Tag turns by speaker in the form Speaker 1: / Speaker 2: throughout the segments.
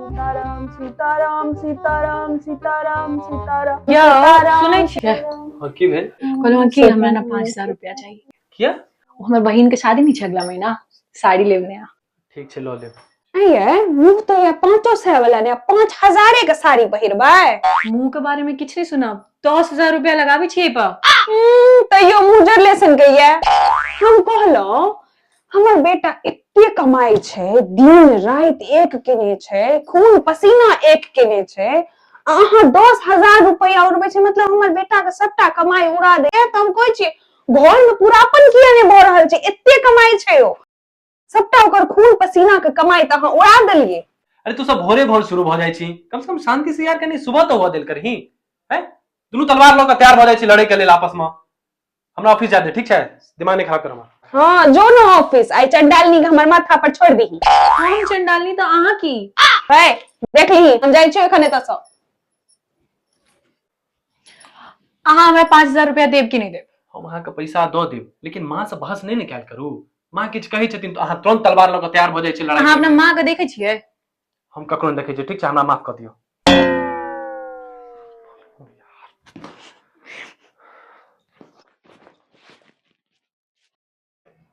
Speaker 1: सीताराम सीताराम सीताराम सीताराम सीताराम क्या सीताराम, सुनै छियै हाँ की भेल कहलहुँ कि हमरा ने पाँच हजार रुपया चाही किया ओ हमर बहिन के शादी नहि छै अगला महीना साड़ी लेब नया ठीक छै लऽ लेब नहीं है मुंह तो ये पाँचो सौ वाला ने पाँच हजारे का साड़ी पहिरबै मुंह के बारे में किछु नहि सुनब दस हजार रुपया लगाबै छियै एहि पर हम्म, तैयो मुँह जरले सन गई है हम कहलहुँ हमर बेटा एते कमाई छै दिन रात एक केने छै खून पसीना एक केने छै अहाँ दस हजार रुपया उड़बे छै मतलब हमर बेटा के सबटा कमाई उड़ा दे तो हम कहे छी घर में पूरापन किया नहीं भ रहल छै एते कमाई छै ओ सबटा ओकर खून पसीना के कमाई त अहाँ उड़ा देलिए अरे तू सब भोरे भोर शुरू भ जाय छी कम से कम शांति से यार कनी सुबह तो हुआ दिल करही हैं दुनू तलवार ल के तैयार भ जाय छी लड़े के लेल आपस में हमरा ऑफिस जा दे ठीक छै दिमाग नहीं खराब कर हमर हाँ जो न ऑफिस आई चंडालनी के हमर माथा पर छोड़ दी हम चंडालनी तो अहाँ की है देख ली हम जाई छियो एखने तस अहाँ हमरा पाँच हजार रुपया देब कि नहीं देब हम अहाँके पैसा दऽ देब लेकिन माँ से बहस नहि ने कयल करू माँ किछु कहै छथिन तऽ अहाँ तुरंत तलवार लऽ कऽ तैयार भऽ जाइ छै लड़ाई अहाँ अपना माँ के देखे छियै हम ककरो नहि देखै छियै ठीक छै हमरा माफ कऽ दियौ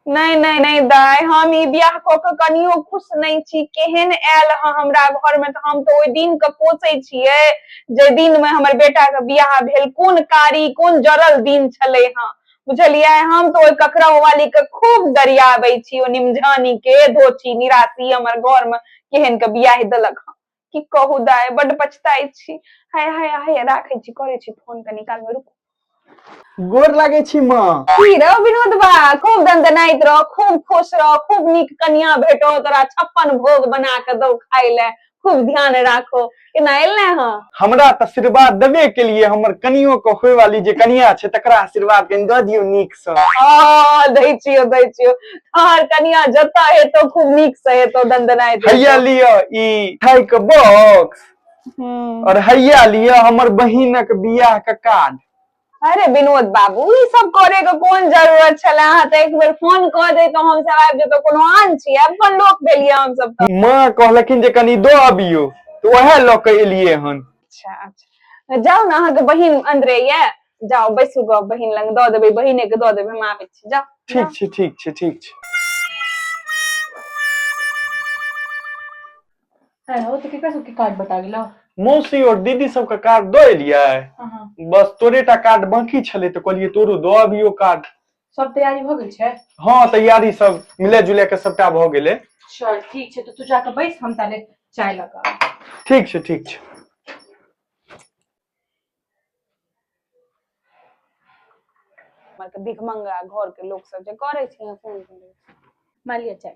Speaker 1: नहि नहि नहि दाय हम ई बियाह कऽ के कनियो खुश नहि छी केहन आयल हँ हमरा घर में तऽ हम तऽ ओहि दिन के कोसै छियै जे दिन में हमर बेटा के बियाह भेल कोन कारी कोन जरल दिन छलै हँ बुझलियै हम तो ओहि ककरा वाली के खूब दरियाबै छी ओ निमझानी के धोची निराशी हमर घर में केहन के बियाह देलक हँ की कहू दाय बड पछताई छी हाय हाय हाय राखे छी करे छी फोन के निकाल में रुकू गोर लागे छी माँ की रे विनोद बा खूब दंदनाइत रह खूब खुश रह खूब नीक कन्या भेटो तोरा छप्पन भोग बना के दो खाय ले खूब ध्यान राखो केना एलै हँ हमरा तऽ आशीर्वाद देबे के लिए हमर कनियो के होय वाली जे कनिया छै तकरा आशीर्वाद कनि दऽ दियौ नीक से आ दै छियो दै छियो तोहर कनिया जतऽ हेतो खूब नीक से हेतो दंदनाय दे हैया लिअ ई खाय के बॉक्स हम्म, और हैया लिअ हमर बहिनक बियाह के कार्ड अरे विनोद बाबू ई सब करे के कोन जरूरत छले अहाँ तऽ एक बेर फोन कऽ दे तऽ हम सब आबि जेतौ कोनो आन छी अपन लोक भेलिए हम सब तऽ माँ कहलखिन जे कनी दो अबियो तो वह लऽ के एलिए हन अच्छा अच्छा जाउ ने अहाँके बहिन अन्दरे ये जाउ बैसू गऽ बहिन लग दऽ देबै बहिने के दऽ देबै हम आबै छी जाउ ठीक छै ठीक छै ठीक छै है ओ तो केकरा सबके कार्ड बटा गेलो मौसी और दीदी सबके कार्ड दऽ एलियै हाँ हाँ बस तोरे टा कार्ड बाकी छलै तऽ कहलियै तोरो दऽ अबियो कार्ड सब तैयारी भ गेल छै हँ तैयारी सब मिले जुले के सबटा भऽ गेलै चल ठीक छै तऽ तू जाके बैस हम ताले चाय लगा ठीक छै ठीक छै हमर के भिखमंगा घर के लोग सब जे करे छै फोन करे मालिया चाय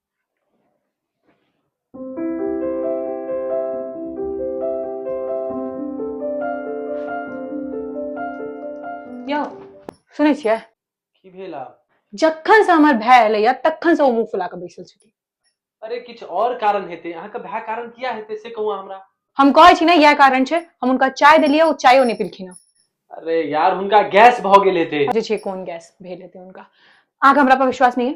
Speaker 1: यौ सुनै छियै की भेल आब जखन से हमर भाय एलैया तखन से ओ मुंह फुला के बैसल छथिन अरे किछु और कारण हेतै अहाँके भए कारण किया हेतै से कहू अहाँ हमरा हम कहै छी ने इएह कारण छै हम हुनका चाय देलियै ओ चायो नहि पिलखिन हँ अरे यार हुनका गैस भऽ गेल हेतै जे छै कोन गैस भेल हेतै हुनका अहाँके हमरा पर विश्वास नहि है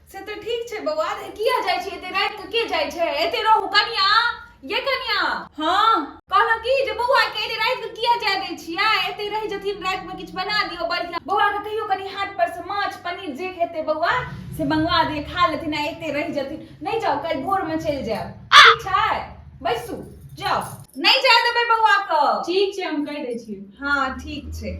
Speaker 1: से तऽ ठीक छै बौआ तऽ किया जाइ छी एते राति के के जाइ छै एते रहू कनिया ये कनिया हाँ कहलहुँ की जे बौआ के एते राति के किया जाय दै छियै एते रहि जथिन राति में किछु बना दियौ बढ़िया बौआ के कहियो कनि हाट पर से माछ पनीर जे खेते बौआ से मंगवा दिए खा लेथिन आ एते रहि जथिन नहीं जाओ कल भोर में चलि जायब ठीक छै बैसू जाओ नहीं जाय देबै बौआ के ठीक छै हम कहि दै छी हाँ ठीक छै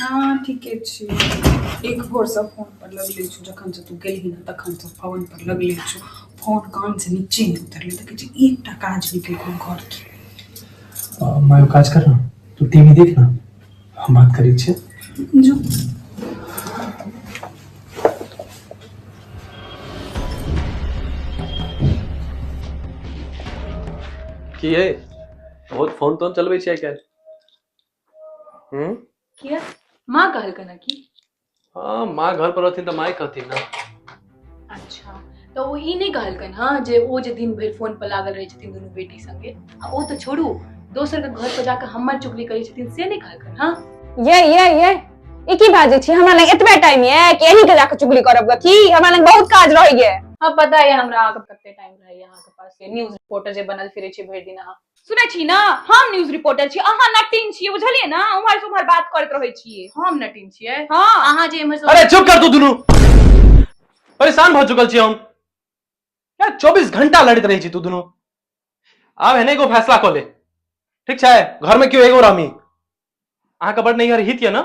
Speaker 1: हँ ठीके छी एक भोर स फोन पर लगले छु जखन स तू गेलही न तखन स फोन पर लगले छु फोन कान स निचे नै उतरले देखे छी एकटा काज नै केलकौ घर के अ, माँ एगो काज कर ना तू टीवी देख ना हम बात करै छियै जो की है बहुत फोन तोन चलबै छियै आइ काल्हि हम्म? किया माँ कहल कना की हाँ माँ घर पर रहती तो माँ ही कहती ना अच्छा तो वो ई नहीं कहल कन हाँ जे वो जे दिन भर फोन पर लागल रहे छथिन दोनों बेटी संगे आ वो तो छोड़ू दोसर के घर पर जाकर हमर चुगली करे छथिन से नहीं कहल कन हाँ ये ये ये ई की बाजे छी हमरा लग एतबे टाइम ये कि एही के जाके चुगली करब ग की हमरा लग बहुत काज रह ये हाँ पता है हमरा अहाँके कते टाइम रहे यहाँ के पास न्यूज रिपोर्टर जे बनल फिरे छी भरि दिन अहाँ सुनै छी ने हम न्यूज रिपोर्टर छी अहाँ नटिन छियै बुझलियै ने उम्हर से उम्हर बात करैत रहै छियै हम नटिन छियै हँ अहाँ जे एम्हर से अरे चुप कर तू दुनू परेशान भऽ चुकल छी हम यार चौबीस घंटा लड़ैत रहै छी तू दुनू आब एहने एगो फैसला कऽ ले ठीक छै घरमे केओ एगो रहमी अहाँके बड नैहर हित यऽ ने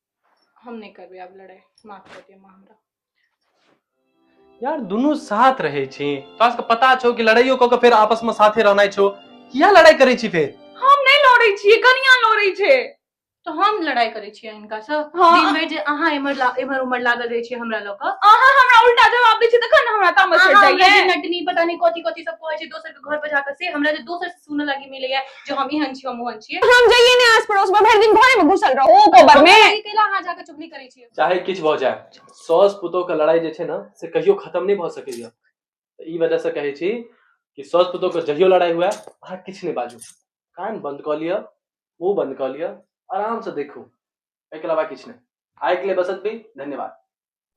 Speaker 1: हम नहीं करबे आब लड़ाई माफ कर दिया माँ हमरा यार दुनू साथ रहे छी तोरा सबके पता छौ कि लड़ाइयो कऽ के फेर आपस में साथे रहनाइ छौ किया लड़ाई करै छी फेर हम नहीं लड़े छिए कनिया लड़े छे तो हम लड़ाई करे छिए इनका से हाँ। दिन भर जे अहाँ एमर ला- एमर उमर लागल रहे छिए हमरा लऽ कऽ अहाँ हमरा उल्टा जवाब दै छी तखन ने हमरा तामस अहाँ चढ़ हमरा जे जाइए नटनी पता नहीं कथी कथी सब कहै छै दोसर के घर पर जाकर से हमरा जे दोसर से सुनऽ लागी मिलैया जो हम ही हंची हम हंची है हम जाइए ने आस पड़ोस में भर दिन घरे में घुसल रहो ओ कोबर में अरे केला हां जाके चुगली करै छी चाहे किछ भ जाय सॉस पुतो के लड़ाई जे छै ना से कहियो खत्म नहीं भ सके या त ई वजह से कहै छी कि सॉस पुतो के जहियो लड़ाई हुआ आ किछ नहीं बाजू कान बंद क लिया मुंह बंद क लिया आराम से देखो एकला बा किछ नहीं आइक ले बसत भी धन्यवाद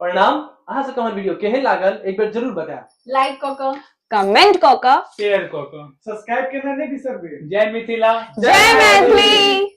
Speaker 1: प्रणाम अहाँ सबके हमर वीडियो केहन लागल एक बेर जरूर बताएब लाइक कऽ कऽ कमेंट कऽ कऽ शेयर कऽ कऽ सब्सक्राइब केना नहि बिसरबै जय मिथिला जय मैथिली